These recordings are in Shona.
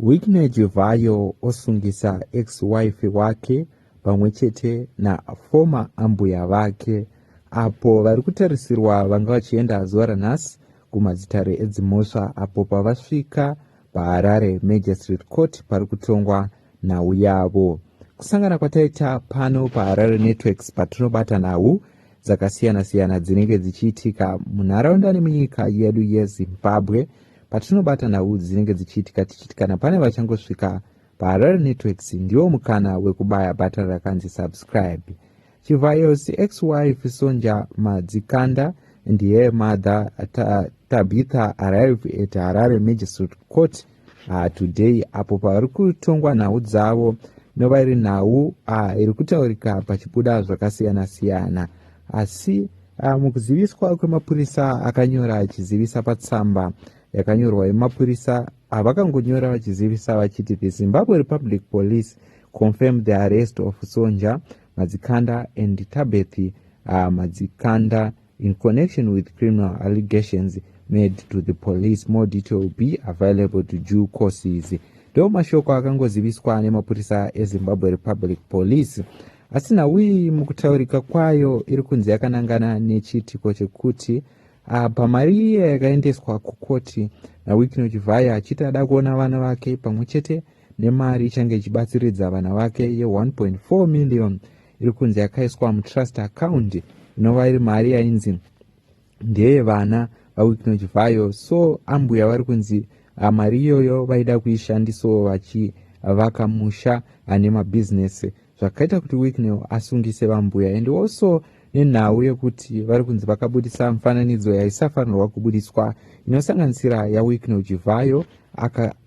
Wickney Chivhayo osungisa ex-wife wake pamwe chete naformer ambuya vake apo vari kutarisirwa vanga vachienda zuva ranhasi kumadzitare edzimhosva apo pavasvika paHarare Magistrate Court pari kutongwa nhau yavo. Kusangana kwataita pano paHarare Networks patinobata nhau dzakasiyana-siyana dzinenge dzichiitika munharaunda nemunyika yedu yezimbabwe patinobata nhau dzinenge dzichiitika tichiti kana pane vachangosvika paharare networks ndiwo mukana wekubaya bhatani rakanzi subscribe chivhayo cxwife sonja madzikanda ndiye mother tabitha arrive at harare magistrate court ah, today apo pavari kutongwa nhau dzavo inova iri nhau ah, iri kutaurika pachibuda zvakasiyana siyana asi ah, mukuziviswa kwemapurisa akanyora achizivisa patsamba yakanyorwa yemapurisa avakangonyora ah, vachizivisa vachiti the zimbabwe republic police confirmed the arrest of sonja madzikanda and tabethi ah, madzikanda uh, in connection with criminal allegations made to the police more detail will be available to due courses ndo mashoko akangoziviswa nemapurisa ezimbabwe republic police asi nhau iyi mukutaurika kwayo iri kunzi yakanangana nechiitiko chekuti ah, pamari iye yakaendeswa kukoti nawikino chivhaya achiti ada kuona vana vake pamwe chete nemari ichange ichibatsiridza vana vake ye 1.4 million iri kunzi yakaiswa mutrust account inova iri mari yainzi ndeye vana vawicknoch vayo so ambuya vari kunzi ah, mari iyoyo vaida kuishandisawo vachivaka musha ane mabhizinesi zvakaita kuti wicknel asungise vambuya and also nenhau yekuti vari kunzi vakabudisa mufananidzo yaisafanirwa kubudiswa inosanganisira yawicknel jivhayo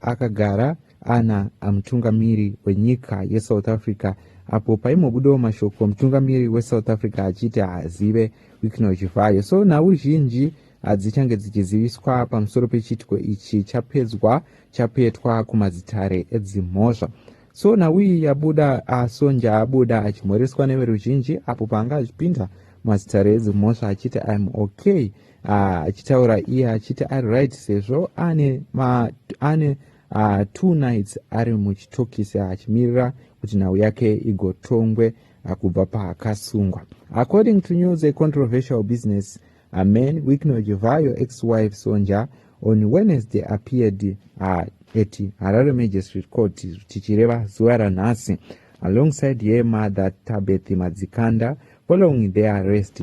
akagara aka Ana amutungamiri wenyika yeSouth Africa apo paimbobudawo mashoko mutungamiri weSouth Africa achiti haazive Wicknell Chivhayo. So nhau zhinji hadzichange dzichiziviswa pamusoro pechiitiko ichi chapedzwa chapetwa kumadzitare edzimhosva. So nhau iyi yabuda asonja abuda achimhoreswa neveruzhinji apo paanga achipinda mazitare edzimhosva achiti im okay ah, achitaura iye achiti ari right sezvo ane, ma, ane uh, two nights ari muchitokisi achimirira kuti nhau yake igotongwe ah, kubva paakasungwa according to news a controversial business a man wikno jevayo ex wife sonja on wednesday appeared uh, at harare magistrate court tichireva zuva ranhasi alongside her mother tabeth madzikanda following their arrest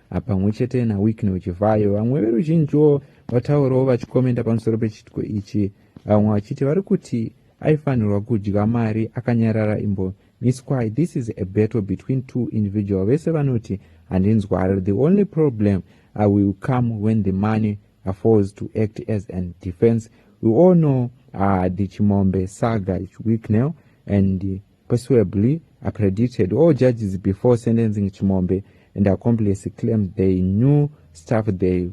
Pamwe chete naWicknell Chivhayo, vamwe veruzhinjiwo vataurawo vachikomenda pamusoro pechiitiko ichi, vamwe vachiti vari kuti aifanirwa kudya mari akanyarara imbo miswai this is a battle between two individual vese vanoti handinzwari the only problem i will come when the money falls to act as an defense we all know uh, the chimombe saga wicknell and persuably accredited all judges before sentencing chimombe and accomplice claimed they knew stuff they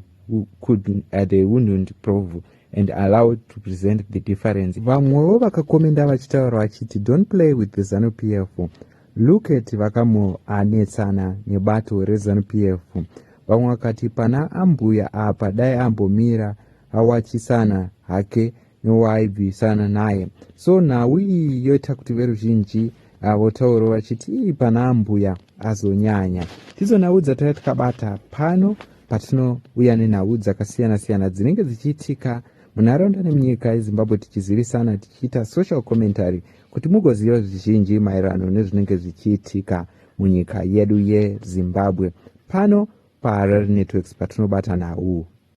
could uh, they wouldn't prove and allow to present the difference vamwewo vakakomenda vachitaura vachiti don't play with the zanu p f look at vakamuanetsana nebato rezanu p f vamwe vakati pana ambuya apa dai ambomira awachisana hake waibvisana naye so nhau iyi yoita kuti veruzhinji ah, votauro vachiti ii pana ambuya azonyanya tidzo nhau dzataiva tikabata pano patinouya nenhau dzakasiyana siyana dzinenge dzichiitika munharaunda nemunyika yezimbabwe tichizivisana tichiita social commentary kuti mugoziva zvizhinji maererano nezvinenge zvichiitika munyika yedu yezimbabwe pano paharare networks patinobata nhau